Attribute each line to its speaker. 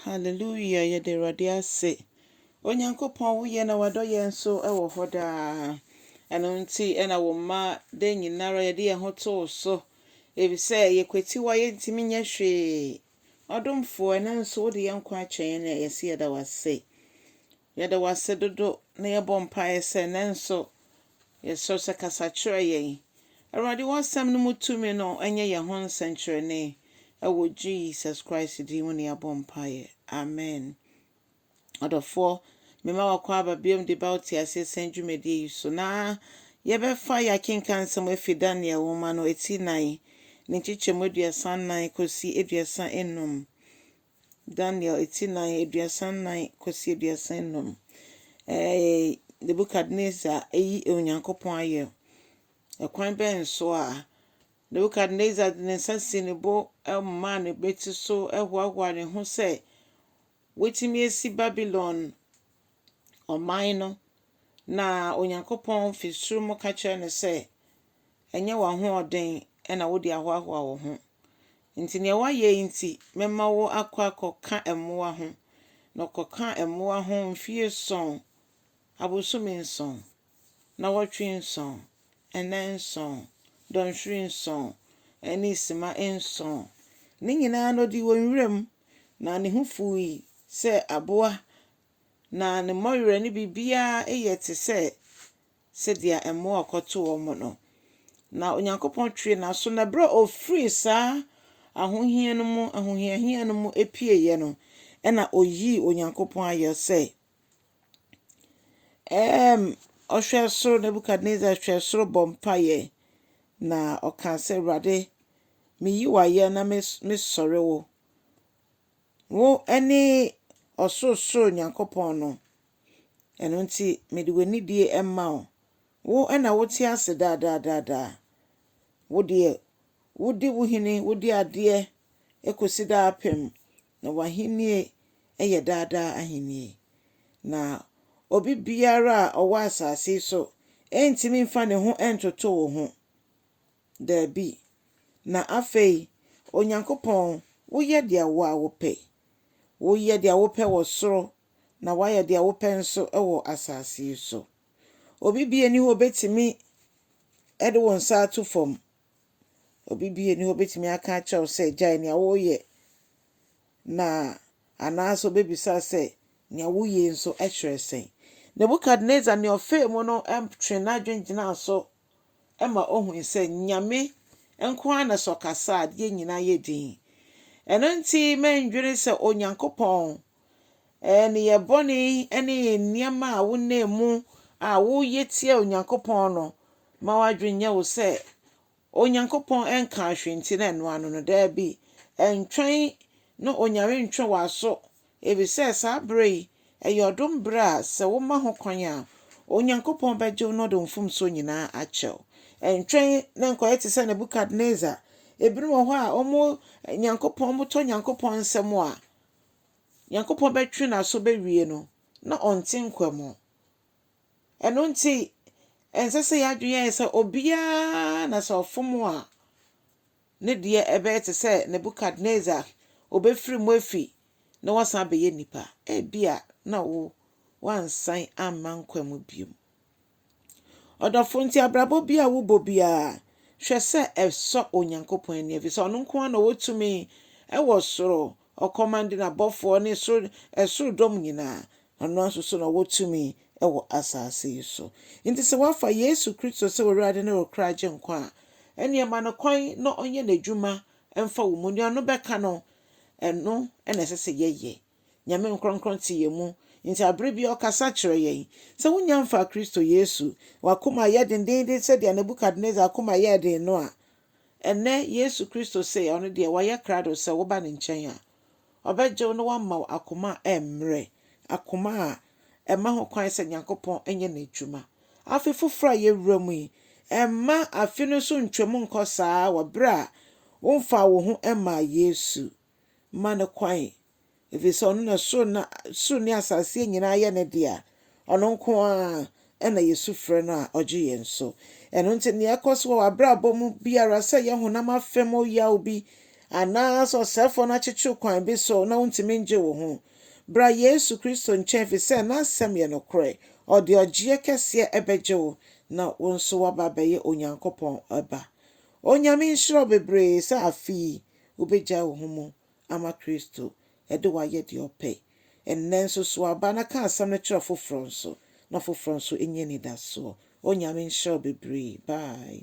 Speaker 1: Hallelujah yɛda Awurade ase. Onyankopɔn wo yɛ na wadɔ yɛn nso wɔ hɔ daa. Ɛno nti ɛna wo mma dɛ nyinara yɛde yɛn ho to wo so. Efisɛ yɛkwatiwa yɛntumi nyɛ hwee. Ɔdomfoɔ ɛno nso wode yɛn nkwa akyɛ yɛn na yɛse yɛda wo ase. Yɛda wo ase dodo na yɛbɔ mpaeɛ sɛ nnɛ nso yɛsrɛ wo sɛ kasa kyerɛ yɛn. Awurade w'asɛm no mu tumi no nyɛ yɛn ho nsɛnkyerɛnne. Ɛwɔ Jesus Christ din mu na yɛabɔ mpaeɛ. Amen. Ɔdɔfoɔ, mema w'akɔ aba biom de ba wo teaseɛ sɛn dwumadie yi so na yɛbɛfa yɛ akenkan nsɛm afi Daniel nwoma no eti nan ne nkyekyɛmu aduasa nnan kɔsi aduasa nnum. Daniel, eti nnan, aduasa nnan kɔsi aduasa nnum. Ɛɛ, Nebukadnezar ayi Onyankopɔn ayɛ. Ɛkwan bɛn so a Nebukadnezar de ne nsa si ne bo maa ne bɛti so hoahoa ne ho sɛ watumi asi Babilon ɔman no, na Onyankopɔn fi soro mu ka kyerɛ no sɛ, ɛnyɛ w'ahoɔden na wode ahoahoa wo ho. Enti nea woayɛ yi nti, mɛma wo akɔ akɔka mmoa ho. Na ɔkɔkaa mmoa ho mfe ason, abosome nson, nnawɔtwe nson, nna nson, dɔnhwere nson, ne simma nson. Ne nyinaa no, odii wɔ nwiram, na ne ho fuwii sɛ aboa, na ne mmɔwerɛ ne biribiara yɛ te sɛ sɛdeɛ mmoa a ɔkɔtoo wɔn no. Na Onyankopɔn twee n'aso, na berɛ a ɔfirii saa ahohia no mu, ahohiahia no mu pieeɛ no, ɛna ɔyii Onyankopɔn ayɔ sɛ, ɛɛm, ɔhwɛɛ soro, Nebukadnesar hwɛɛ soro bɔ mpaeɛ, na ɔkaa sɛ, Awurade, meyi wo ayɛ na mes- mesɔre wo. Wo ne ɔsorosoro Nyankopɔn no, Ɛno nti, mede w'anidie rema wo. Wo na wote ase daa daa daa daa. Wo deɛ, wodi wo hene, wodi adeɛ kɔsi daapem, na w'ahennie yɛ daa daa ahennie. Na obi biara a ɔwɔ asase yi so rentumi mfa ne ho ntoto wo ho. Dabi. Na afei, Onyankopɔn, woyɛ deɛ wo ara wopɛ. Woyɛ deɛ wopɛ wɔ soro, na woayɛ deɛ wopɛ nso wɔ asase yi so. Obi biara nni hɔ a ɔbɛtumi de wo nsa ato fam. Obi biara nni hɔ a ɔbɛtumi aka akyerɛ wo sɛ, gyae nea woreyɛ, na anaasɛ ɔbɛbisa sɛ, nea woyɛ yi nso kyerɛ sɛn? Nebukadnesar nea ɔfaa mu no twee n'adwene gyinaa so ma ohui sɛ Nyame nko ara na sɛ ɔkasa a adeɛ nyinaa yɛ dinn. Ɛno nti mɛndwene sɛ Onyankopɔn nneyɛɛ bɔne ne nneɛma a wonam mu a woyɛ tia Onyankopɔn no ma w'adwene nyɛ wo sɛ Onyankopɔn nkaa hwee nti na ɛno ano no. Daabi, ɛntwɛn na Onyame ntwe w'aso Efisɛ saa bere yi, ɛyɛ ɔdom bere a sɛ woma ho kwan a, Onyankopɔn bɛgye wo na ɔde wo mfomsoɔ nyinaa akyɛ wo. Ɛntwɛn na nkɔyɛ te sɛ Nebukadnesar. Ebinom wɔ hɔ a, wɔn Nyankopɔn, wɔtɔ Nyankopɔn nsam a, Nyankopɔn bɛtwe n'aso bɛwie no, na ɔnte nkwa mu. Ɛno nti, ɛnsɛ sɛ yɛn adwene yɛ sɛ obiara na sɛ ɔfom wo a, Ne deɛ ɛbɛyɛ te sɛ Nebukadnesar, wɔbɛfiri mu afi na wɔasan abɛyɛ nnipa. Ebia na wo, woansan amma nkwa mu biom. Ɔdɔfo, nti abrabɔ bi a wobɔ biara, hwɛ sɛ ɛsɔ Onyankopɔn ani, ɛfiri sɛ ɔno nko ara na ɔwɔ tumi wɔ soro, ɔkɔmande n'abɔfoɔ ne soro, ɛsoro dɔm nyinaa, Ɔno ara nso so na ɔwɔ tumi wɔ asase yi so. Enti sɛ woafa Yesu Kristo sɛ w'Awurade ne wo kra Agyenkwa a, ɛnneɛ ma no kwan na ɔnyɛ n'adwuma mfa wo mu. Deɛ ɔno bɛka no, ɛno na ɛsɛ sɛ yɛyɛ. Nyame nkorɔnkorɔn te yɛn mu, enti aberɛ biara ɔkasa kyerɛ yɛn. Sɛ wonnya mfaa Kristo Yesu, w'akoma ayɛ dendeenden sɛdeɛ Nebukadnesar akoma yɛɛ den no a, Ɛnnɛ, Yesu Kristo se ɔno deɛ wayɛ krado sɛ woba ne nkyɛn a, ɔbɛgye wo na wama wo akoma a ɛmmrɛ, akoma a ɛma ho kwan sɛ Nyankopɔn nyɛ n'adwuma. Afe foforo a yɛwura mu yi, mma afe no so ntwam nkɔ saa ara wɔ bere a womfaa wo ho mmaa Yesu. mma no kwan, ɛfiri sɛ ɔno na soro na soro ne asaseɛ nyinaa yɛ ne dea, ɔno nko ara na yɛsu frɛ no a ɔgye yɛn so. Ɛno nti nea ɛkɔ so wɔ w'abrabɔ mu biara sɛ yɛ honam afam ɔyaw bi anaasɛ ɔsɛefoɔ no akyekyere kwan bi so na wontumi ngye wo ho, bra Yesu Kristo nkyɛn ɛfiri sɛ n'asɛm yɛ nokorɛ, ɔde ɔgyeɛ kɛseɛ ɛbɛgye wo na wo nso woaba abɛyɛ Onyankopɔn ba. Onyame nhyira wo bebree sɛ afe yi wobegyae wo ho mu ama Kristo de wo ayɛ deɛ ɔpɛ. Ɛnnɛ nso sow aba na ka asɛm no kyerɛ foforɔ nso na foforɔ nso nya anidasoɔ. Onyame nhyira wo bebree. Bye.